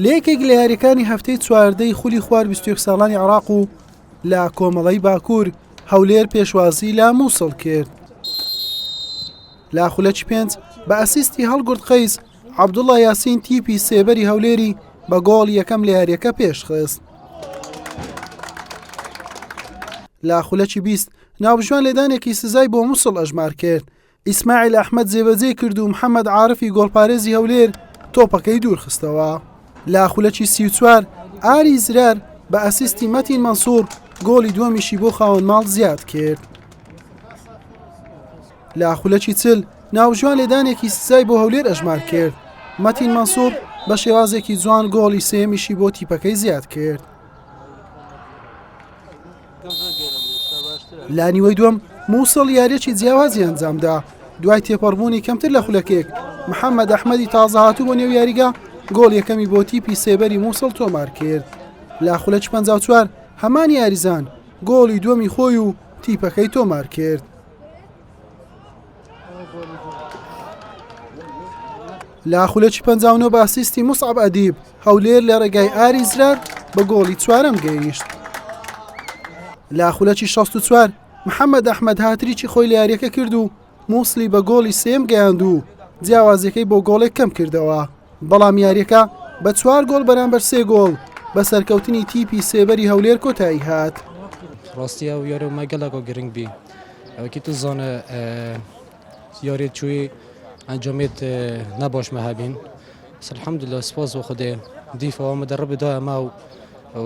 لە یەکێک لە یاریەکانی هەفتەی چواردەی خولی خوار 21 ساڵانی عراق و لە کۆمەڵی باکوور هەولێر پێشوازی لە مووسڵ کرد لا خولەکی پێنج بە ئەسیستی هەڵگرد قەیس عبدوڵە یاسین تیپی سێبەری هەولێری بە گۆڵ یەکەم لە یاریەکە پێشخست لا خولەکی بیست ناوبژوان لێدانێکی سزای بۆ مووسڵ ئەژمار کرد ئیسماعیل ئەحمەد جێبەجێی کرد و محەممەد عارفی گۆڵپارێزی هەولێر تۆپەکەی دوورخستەوە. لە خولەکی سی و چوار ئاری زرار بە ئەسیستی مەتین مەنسوور گۆڵی دووەمیشی بۆ خاوەن ماڵ زیاد کرد. لە خولەکی چل ناوژوان لێدانێکی سزای بۆ هەولێر ئەژمار کرد. مەتین مەنسوور بە شێوازێکی جوان گۆڵی سێمیشی بۆ تیپەکەی زیاد کرد. لە نیوەی دووەم مووسڵ یاریەکی جیاوازی ئەنجامدا دوای تێپەڕبوونی کەمتر لە خولەکێک محەممەد ئەحمەدی تازەهاتوو بۆ نێو یاریگە گۆڵ یەکەمی بۆ تیپی سێبەری مووسڵ تۆمار کرد لە خولەک 54 هەمان یاریزان گۆڵی دووەمی خۆی و تیپەکەی تۆمار کرد. لە خولەکی پەنجاونۆ بە ئەسیستی موسعب ئەدیب هەولێر لە ڕێگای ئاری زرار بە گۆڵی چوارەم گەیشت لە خولەکی 64 محەممەد ئەحمد هاتریی خۆی لە یاریەکە کرد و مووسلی بە گۆڵی سێم گەیاند و جیاوازەکەی بۆ گۆڵێک کەم کردەوە بەڵام یارییەکە بە چوار گۆڵ بەرامبەر سێ گۆڵ بە سەرکەوتنی تیپی سێبەری هەولێر کۆتایی هات. ڕاستی ئەو یارە مە گەلەکە گرنگ بی ئەوکی تو زانە یاری چوی ئەنجامێت نەباش مەهبین سلحمد لە سپاس و خودێ دیفەوە مە دەڕ بدایە ما و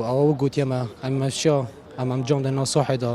ئەوە گوتیەمە ئەمەشا ئەم ئەمجام دە ناسۆحێدا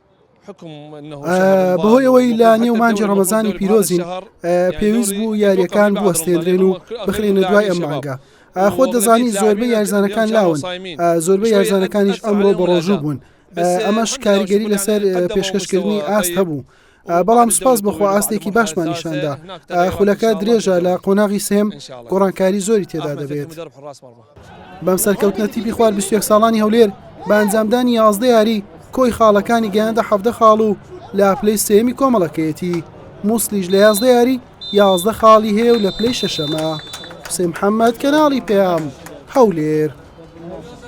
بەهۆی ئەوەی لە نێو مانجی ڕەمەزانی پیرۆزین پێویست بوو یاریەکان بوەستێنرێن و بخرێنە دوای ئەم مانگە ئاخۆ دەزانی زۆربە یارزانەکان لاون زۆربە یارزانەکانیش ئەمڕۆ بە ڕۆژوو بوون ئەمەش کاریگەری لەسەر پێشکەشکردنی ئاست هەبوو. بەڵام سپاس بخوا ئاستێکی باشمان نیشاندا خولەکە درێژە لە قۆناغی سێم گۆڕانکاری زۆری تێدا دەبێت. بەم سەرکەوتنە تیپی خوار بیست و یەک ساڵانی هەولێر بە ئەنجامدانی یازدە یاری کۆی خاڵەکانی گەیاندە حەڤدە خاڵ و لە پلەی سێیەمی کۆمەڵەکەیەتی موسڵیش لە یازدە یاری یازدە خاڵی هەیە و لە پلەی شەشەمە حوسێن محەممەد کەناڵی پێام هەولێر